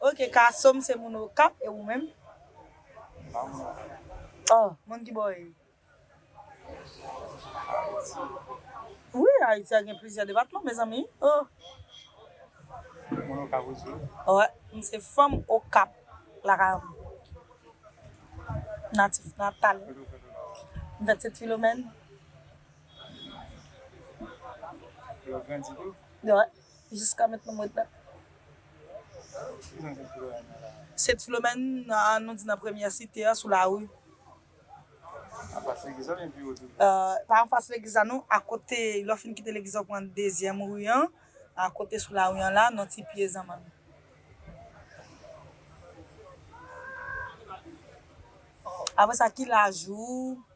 Ok kasom se moun okap e ou menm. M pa moun okap. Oh moun ki bò e. Wi ayiti a gen plizyè depatman mezanmi oh. Ou moun okap osi. Wè m se fanm okap lakay m natif natal. Kote ou fèt ou la ou. M fèt sent filomèn. Epi ou grandi tou. Wè. Jiska mentnan m ret la. Sent Filomèn an nou di nan premyè site an sou lari. Anfas legliz la oubyen pi wo toujou? Pa anfas legliz la non, akote lè w fin kite legliz la w pran dezyèm ri an, akote sou lari an la nan ti pye zanmann. Aprè sa ki laj ou?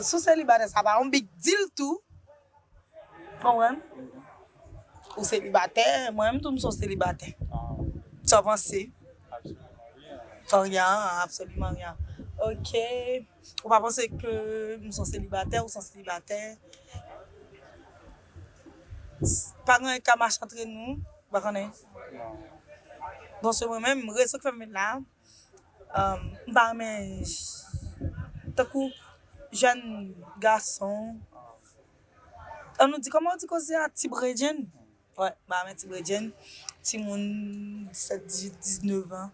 Sou selibatè sa pa yon big deal tou. Konprann? Ou selibatè, mwen menm tou m son selibatè. Sa w panse? Absolument rien. Rien, absolument rien. Ok. Ou pa panse ke m son selibatè, ou son selibatè. Pa gen anyen ki ka mache antre nou, ou pa konnen? Non. Bon se mwen menm, rezon ki fè m vin la a. M pa renmen tankou jèn gason an nou di kòman ou di koze a ti bredjenn m pa renmen ti bredjenn timoun 17 18 19 an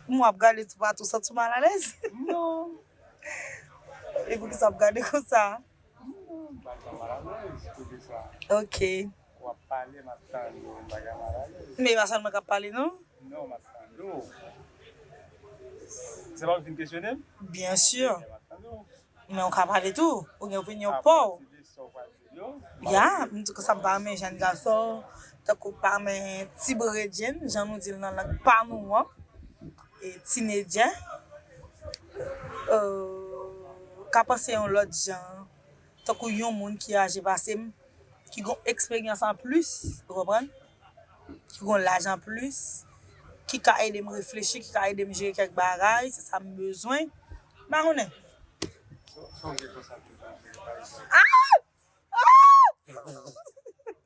m ap gade toupatou ou santi w malalèz e poukisa w ap gade konsa ok. Wap pale map tande w bagay malalèz. Men e pa sèlman kap pale non. Non map tande w. Se paw ki vin kesyone m? Byen sur. Ebyen map tande w. Men ou ka pale tou. Ou gen opinyon paw. Apati de sa w pral di m yo. Ya, sa m pa renmen jèn gason tankou pa renmen ti bredjenn jan nou di l nan lang pa nou an. E tinedjè. Ka panse yon lòt jan. tankou yon moun ki aje pase m, ki gon eksperyans an plis, ou konprann, ki gon laj an plis, ki ka ede m reflechi, ki ka ede m jere kèk bagay, se sa m bezwen, m pa konnen. Sa w gen konsa ki w ka jere pa egzanp?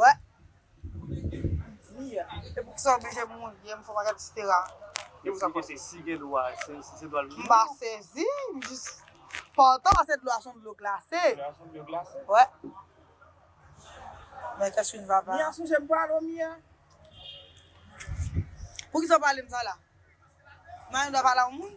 Wè. Diya. E pou kisa oblije mouye m fò bagay etc. Yo sa pase. Si gen dlo a se se dlo a l. M pa sezi m jis pantan pase dlo a son dlo glase. Dlo a son dlo glase. Wè. Mwen kè sou n vava. Mia sonje m pral o mia. Pou kisa w pale m sa la. Maya dwa pale a yon moun.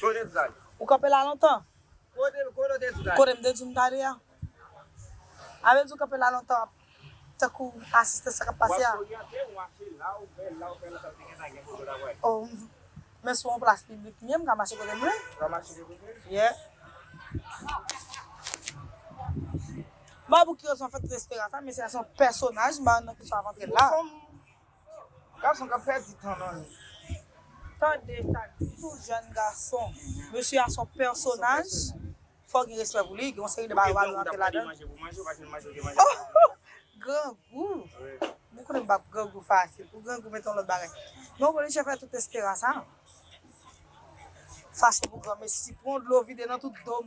Kote sa ye? Ou kanpe la lontan? Kote kote sa ye? Kote m te di w m ta ale a. A vle di ou kanpe la lontan tankou asiste sa k ap pase a? W ap oryante mwen se la ou fè la ou fè lontan te gentan gen foto la wè. O men sou yon plas piblik m ye m ka mache kote m vle. Ou ka mache kote w vle? Yeah. Babouki yo son fè trèsperansa mesye a son pèsonaj m pa konn nan ki swa ap antre l la. Gason kap pèdi tan nan li. Tande sa ki tou jèn gason. Mesye a son pèsonaj fò gen respè pou li gen yon seri de bagay wap rantre ladann ooh grangou mwen konnen m pap grangou fasil pou grangou mete yon lòt bagay non boniche fè tout esperan sa fache pou granmesi pran dlo vide nan tout dom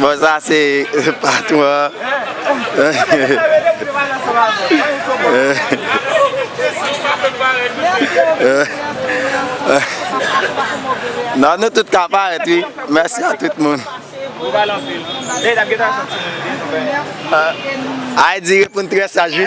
Bon sa se patron an. Non nou tout ka parèt wi. Mèsi a tout moun. Ayy di reponn trè saj wi.